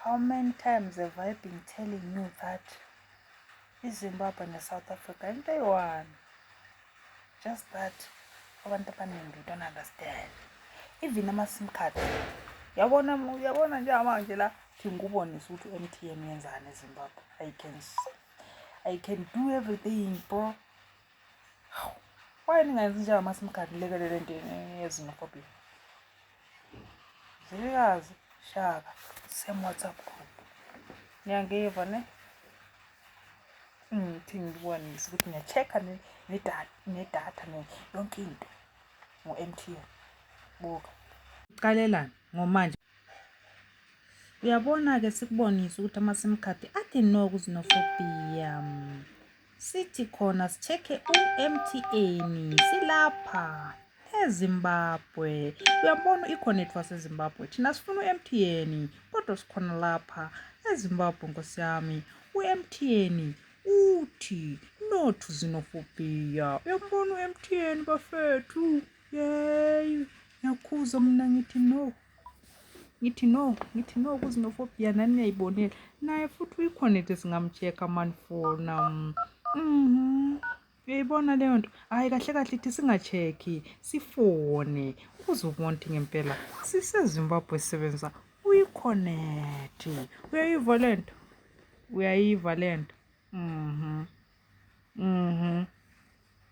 How many times have I been telling you that iZimbabwe neSouth Africa into eyi-one. Just that abantu abaningi don't understand. Even ama-sim card. Yabona yabona njengamanje la ngikubonisa ukuthi u-M_T_N uyenzani eZimbabwe. I can I can do everything bro. Why ningenzi njengama-sim card nilekelele into yezinofobia? Zilikazi Shaka same WhatsApp group. Niyangiva ne? Ngithi ngibonise ukuthi ngiya-check-a nedatha yonke into ngo-MTN. Buka. Qalelani ngomanje. Uyabona-ke sikubonise ukuthi ama-sim card athi no kuzinofobia. Sithi khona sichekhe uMTN silapha eZimbabwe. Uyabona ikhona ethu waseZimbabwe. Thina sifuna uMTN kodwa sikhona lapha eZimbabwe nkosi yami. UMTN uthi no to xenophobia. Uyabona uMTN bafethu. Yey. Ngiyakhuza mina ngithi no. ngithi no ngithi no kuzinofobia nani niyayibonela naye futhi uyikhonethe singamcheck-a mani fona mhm uyayibona leyo nto hhayi kahle kahle ithi singa-check-i sifone uzobona ukuthi ngempela sisezimbabwe sisebenza uyikhonethe uyayiva le nto uyayiva le nto mhm mhm